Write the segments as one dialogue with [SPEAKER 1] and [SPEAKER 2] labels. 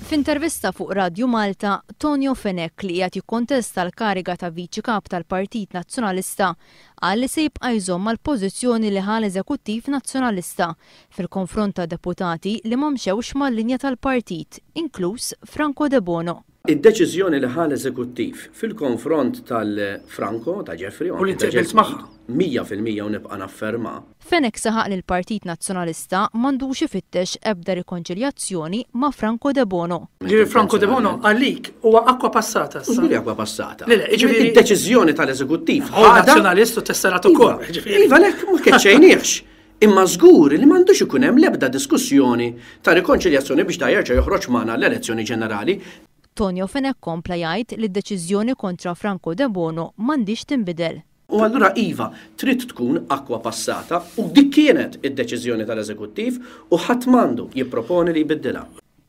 [SPEAKER 1] F'intervista fuq Radju Malta, Tonio Fenech li qiegħed jikkontesta l-kariga ta' Viċi Kap tal-Partit Nazzjonalista qal li se jibqa' jżomm mal-pożizzjoni li ħa l-Eżekuttiv Nazzjonalista fil-konfront ta' deputati li ma mxewx mal-linja tal-partit, inkluż Franco Debono. Id-deċiżjoni li ħa
[SPEAKER 2] l-eżekuttiv fil-konfront tal-Franco, ta' Jeffrey u anki ta' Jesmond,
[SPEAKER 3] mija fil-mija u
[SPEAKER 2] nibqa' nafferma. Fenech saħaq li
[SPEAKER 1] l-Partit Nazzjonalista m'għandux ifittex ebda rikonċiljazzjoni ma' Franco Debono. Jiġifieri Franco Debono
[SPEAKER 3] għalik huwa acqua passata issa. Mhux billi acqua passata.
[SPEAKER 2] Le le, jiġifieri. Id-deċiżjoni
[SPEAKER 3] tal-eżekuttiv
[SPEAKER 2] ħadha. Hu Nazzjonalist u
[SPEAKER 3] tesserat ukoll, jiġifieri. Iva, le, ma
[SPEAKER 2] keċċejniex. Imma żgur li m'għandux ikun hemm l-ebda diskussjoni ta' rikonċiljazzjoni biex da jerġa' joħroġ magħna għall-elezzjoni ġenerali. Tonio Fenech
[SPEAKER 1] kompla jgħid li d-deċiżjoni kontra Franco Debono m'għandhiex tinbidel. U allura iva,
[SPEAKER 2] trid tkun acqua passata u dik kienet id-deċiżjoni tal-Eżekuttiv u ħadd m'għandu jipproponi li jbiddilha.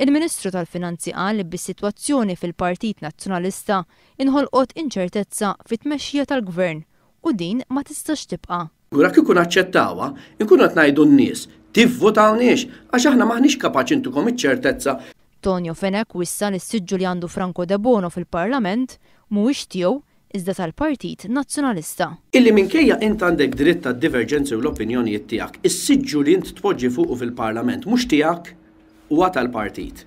[SPEAKER 2] Il-Ministru
[SPEAKER 1] tal-Finanzi qal li bis-sitwazzjoni fil-Partit Nazzjonalista inħolqot inċertezza fit-tmexxija tal-Gvern U din ma tistax tibqa'. Kura kieku naċċettawha,
[SPEAKER 2] inkunu qed ngħidu n-nies, tivvotawniex għax aħna m'aħniex kapaċi ntukom iċ-ċertezza. Tonio Fenech
[SPEAKER 1] wissa li s-siġġu li għandu Franco Debono fil-Parlament mhuwiex tiegħu iżda tal-Partit Nazzjonalista. Illi minkejja
[SPEAKER 2] int għandek dritt għad-diverġenzi u l-opinjonijiet tiegħek, is-siġġu li int tpoġġi fuqu fil-Parlament mhux tiegħek, huwa tal-Partit.